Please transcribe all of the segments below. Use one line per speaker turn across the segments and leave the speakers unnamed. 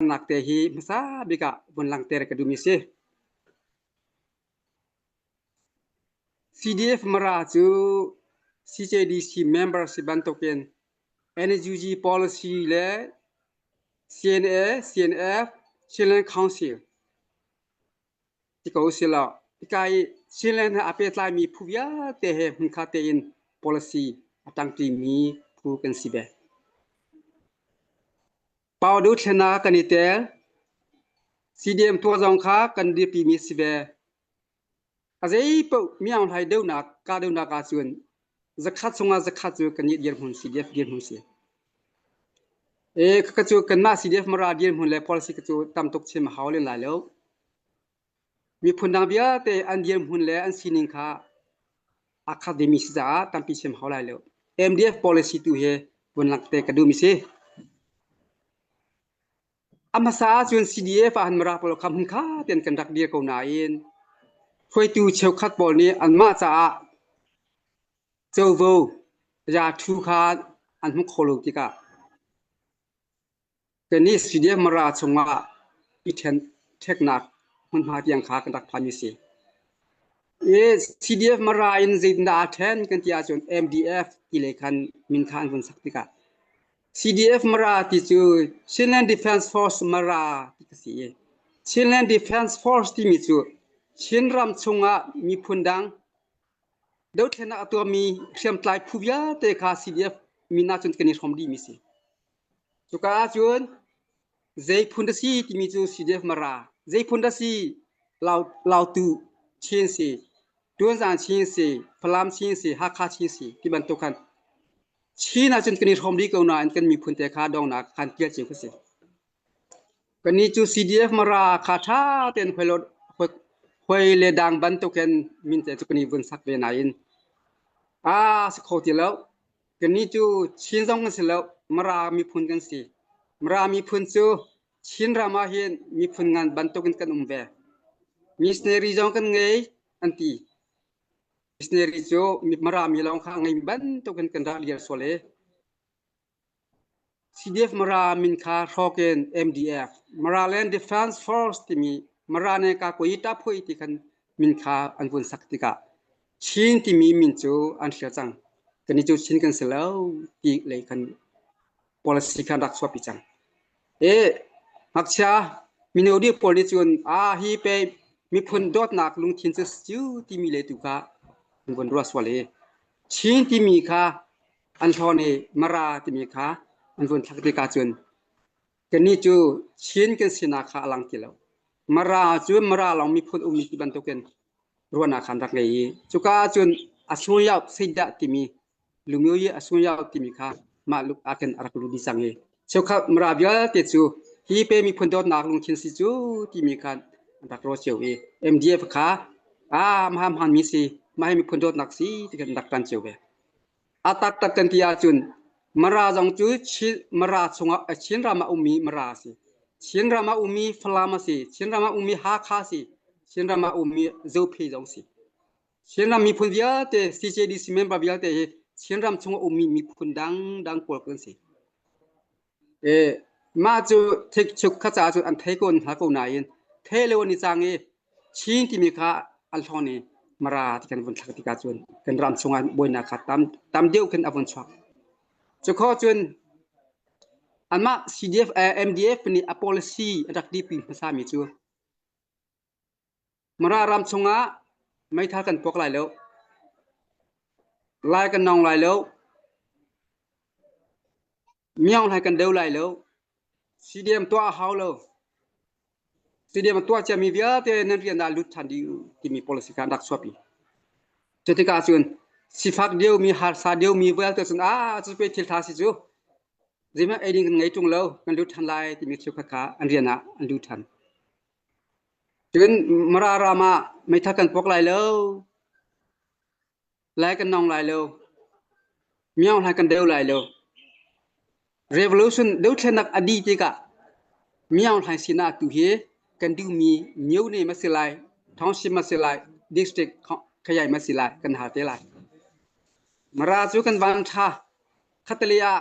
Langnak te hi hmasa bik ah vun langter ka duhmi si. CDF mara cu CJDC member si bantukin NUG policy le CNA, CNF, Chinland Council ti ko si lo. Ikai Chinland ha ape tlaimi phu vialte he hmungkha tein policy atangtimi phu kan si be. Pau deuh thlen ah kan i tel. CDM tuak zong kha kan dirpimi si ve. A zei paoh mianghlai deuhnak ka deuhnak ah cun zakhat chungah zakhat cu kan i dirhmun CDF dirhmun si. E kaka cu kanmah CDF mara dirhmun le policy ka cu tam tuk chim a hau len lai lo. Miphun dang vialte an dirhmun le an sining kha academy si caah tampi siam hau lai lo. MDF policy tu hi vun langh te ka duhmi si. A hmasa ahcun CDF ah han mara pawl kha hmun kha ten kan rak dir ko nain hruaitu cheukhat pawl nih anmah caah covo ya thu kha an hmu kho lo tikah Tennis stadium Mara chungah i ṭheknak hmunhma tiang kha kan rak phanmi a si. I CDF Mara in zeitindah aa ṭhen kan ti ahcun MDF ti le khan min kha an vun sak tikah CDF Mara ti cu Chinland Defence Force Mara ti ka si i Chinland Defence Force timi cu Chin ram chungah miphun dang dothlennak a tuahmi hriamtlai phu vialte kha CDF min ahcun kan i hrawm dihmi a si. Cuka ahcun zeiphun dah si timi cu CDF Mara, zeiphun dah si Lautu Chin si, Tuanzan Chin si, Falam Chin si, Hakha Chin si ti bantuk khan Chin ahcun kan i hrawm rih ko nain kan miphun te kha dongnak khan tial cio ka si. Kannih cu CDF Mara kha ṭha tein hoi le dang bantuk hin min te cu kan i vun sak ve nain aa si kho ti lo. Kannih cu Chin zong kan si lo, Mara miphun kan si. Mara miphun cu Chin ram ah hin miphun ngan bantukin kan um ve. Missionary zong kan ngei an ti. Missionary cu Mara mi lawng kha ngei bantukin kan rak lial sual i CDF-Mara min kha hrawk in MDF Maraland Defense Force timi Marane Kakwe Taphui ti khan min kha an vun sak tikah Chin timi min cu an thlir cang kani cu Chin kan si lo ti lei khan policy khan rak chuapi cang e ngakchia mino di pawl nih cun a hi pe miphun dawtnak lungthin cu siu timi le tu kha an vun ruah sual hi Chin timi kha an thlawn i Mara timi kha an vun thlak tikah cun kannih cu Chin kan sinak kha a lang ti lo. Mara cu Mara lawng miphun ummi ti bantukin ruahnak khan rak ngei i cuka ahcun Asun Yao Seidah timi Lumyu i Asun Yao timi kha mah luk ah khin a rak lut dih cang i cheukhat Mara vialte cu hi pe miphun dawtnak lungthin si cu timi kha an rak rawl cio i MDF kha a mhamhan mi si mah hi miphun dawtnak si ti khin rak kan cio ve. A taktak kan ti ahcun Mara zong cu Chin Mara chungah Chin ram ah ummi Mara a si. Chin ram ah ummi Falam a si. Chin ram ah ummi Hakha a si. Chin ram ah ummi Zophe zong a si. Chin ram miphun vialte CJDC member vialte hi Chin ram chungah ummi miphun dangdang pawl kan si. i mah cu thikchuk kha caah cun an thei ko hna ko nain the leu an i cang i chin timi kha an hlawng i mara ti kan vun thlak tikah cun kan ram chungah buainak kha tam tam deuh khin a vun chuak cukho cun anmah CDF MDF nih a policy a rak dihpi hmasami cu Mara ram chungah meithal kan puak lai lo. Lai kan nawng lai lo. Miang lai kan deu lai lo. CDM tuah a hau lo. CDM a tuah ciami vialte nan rian ah lut ṭhan ding timi policy kha an rak chuapi. Cu tikah cun sifak diomi, harsa diomi vialte cun ah cu pe thil ṭha si cu zeihmanh ei ding kan ngei ṭung lo, kan lut ṭhan lai timi thil kha an rian ah an lut ṭhan. Cun Mara ram ah meithal kan puak lai lo, lai kan nawng lai lo, miang hlai kan deu lai lo. Revolution dothlenak a dih tikah miang hlai sinah tu hi kan duhmi myone ma si lai, township ma si lai, district khayai ma si lai kan hal te lai. Mara cu kan van ṭha. Khatale ah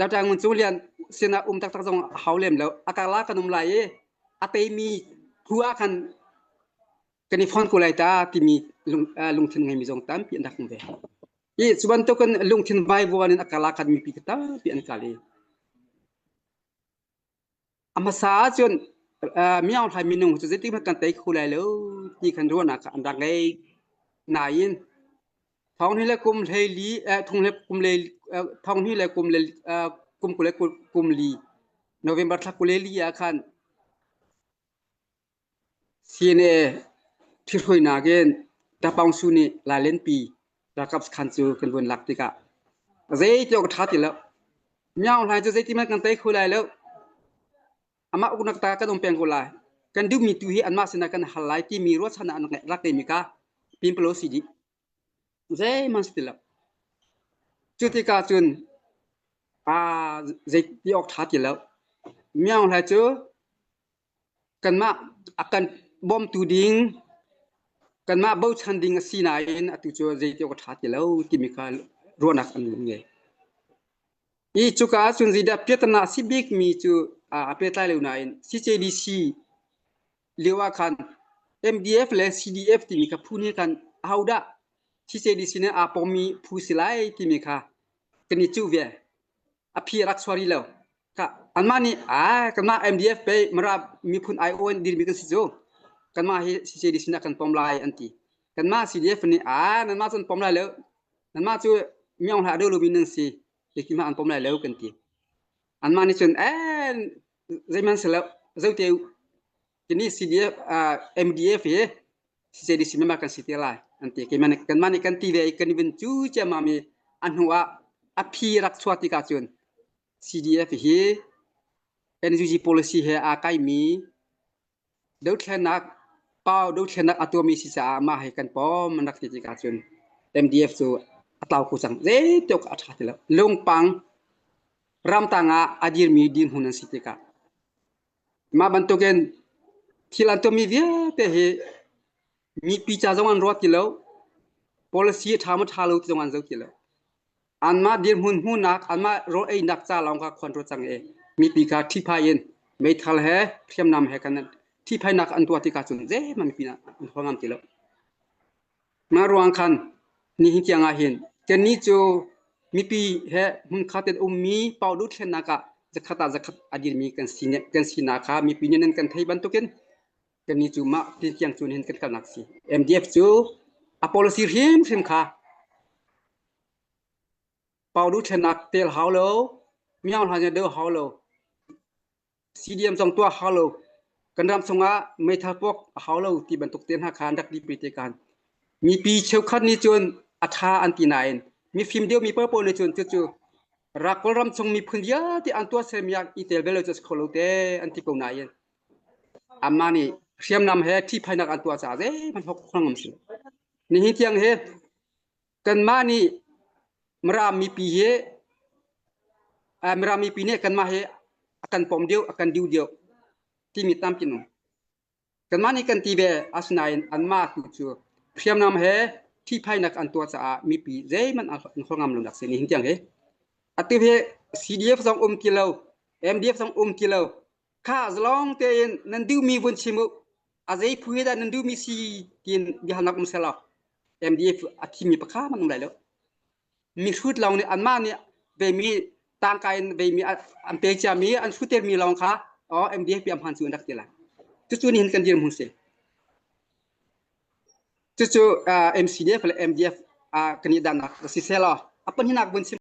Datang cu lian sinah um taktak zong a hau lem lo. A karla kan um lai i a teimi hu ah khan kan i fon ko lai ta timi lungthin ngeimi zong tampi an rak um ve. I cu bantukin lungthin vaivuan in a karla kan mipi ka tampi an kal i A hmasa ahcun miyaunghlai minung cu zeitikhmanh kan tei kho lai lo ti kan ruahnak kha an rak ngei. Nain thonghni le kum hleili thongni le kum le thonghni le kum le kum kul le kum li November thla kul le li ah khan CNA ṭhihruainak in Tapong Su nih lailenpi ralkap sakhan cu kan vun lak tikah zeitiawk a ṭha ti lo. Miao hlai cu zeiti man kan tei kho lai lo. Amah uknak ta kan um peng ko lai. Kan duhmi tu hi anmah sinah kan hal lai timi ruahchan ah an rak lak temi kha pimpalo si dih. Zeihman si ti lo. Cu tikah cun aa zeiti awk ṭha ti lo. Miao hlai cu kanmah a kan bawmtu ding kanmah bochan ding a si nain atu cu zeiti awk a ṭha ti lo timi kha ruahnak an ngei ngei. I cuka ah cun zeidah piahtana a si bikmi cu a pehtlai lo nain CJDC lio ah khan MDF le CDF timi kha phu nih khan ahodah CJDC nih aa pawmmi phu si lai timi kha kan i cuh ve. a phi a rak suar rih lo. Ka anmah nih a kanmah MDF pe mara miphun aiawn dirmi kan si cu kanmah hi CCD sinah kan pom lai an ti. Kanmah CDF nih a nanmah cun pom lai lo nanmah cu miong hla do lomi nan si khi ma an pom lai lo kan ti. Anmah nih cun eh zeiman se lo zote Kini CDF MDF hi CCDC member kan si te lai an ti keimah nih kanmah nih kan ti ve i kan vun cu ciammam i a hnu ah a phi rak chuah tikah cun CDF hi NUG policy he aa kaimi dothlenak pau dothlenak a tuami si caah mah hi kan pawm an rak ti tikah cun MDF cu a tlau kho cang zeituk a ṭha ti lo lungpang ramtang ah a dirmi dirhmun an si tikah Mah bantukin thil an tummi vialte hi mipi ca zong an ruat ti lo, policy a ṭha maw ṭha lo ti zong an zoh ti lo. Anmah dirhmun hmuhnak, anmah rawl einak ca lawng kha khuan ṭuat cang i mipi kha ṭhihphai in meithal he hriamnam he kan ṭhihphainak an tuah tikah cun zeihmanh mipi nih an hua ngam ti lo. Mah ruang khan nihin tiang ah hin kannih cu mipi he hmunkhat in ummi pau duh thlennak ah zakhat ah zakhat a dirmi kan si kan sinak kha mipi nih nan kan thei bantukin kannih cu mah ti tiang cun hin kan kalnak si. MDF cu a policy hrimhrim kha pau duh thlennak tel hau lo, miang hlan dah hau lo CDM zong tuah hau lo kan ram chungah meithal puak a hau lo ti bantuk te hna kha an rak di pe te kan mipi cheukhat nih cun a tha an ti nain mifim deu mi pawl nih cun cucu rak kawlram chung miphun vialte an tuah sermiak i tel bel cu kho lo te an ti ko nain amma nih hriamnam he ṭhihphainak an tuah caah zeihmanh hok ngam si nihin tiang he kanmah nih Mirang mipi hi Mirang mipi nih kanmah hi a kan pom deuh a kan diu deuh timi tampi nu kanmah nih kan ti ve asinain anmah tu cu hriamnam he ṭhihphainak an tuah caah mipi zeihmanh an hlor ngam lonak si nihin tiang hi atu hi CDF zong um ti lo MDF zong um ti lo kha zalong tein nan duhmi vun chim u a zei phu he dah nan duhmi si tiin biahalnak um selo MDF a thimi pakha man um lai lo mi hrut lawng nih anmah nih veimi tangka in veimi an pe ciami an hrutermi lawng kha o MDF bi amhan cu an rak ti lai cucu ni hin kan dir mun si cucu MCDF le MDF kan i dannak si selo apan hinak vun chim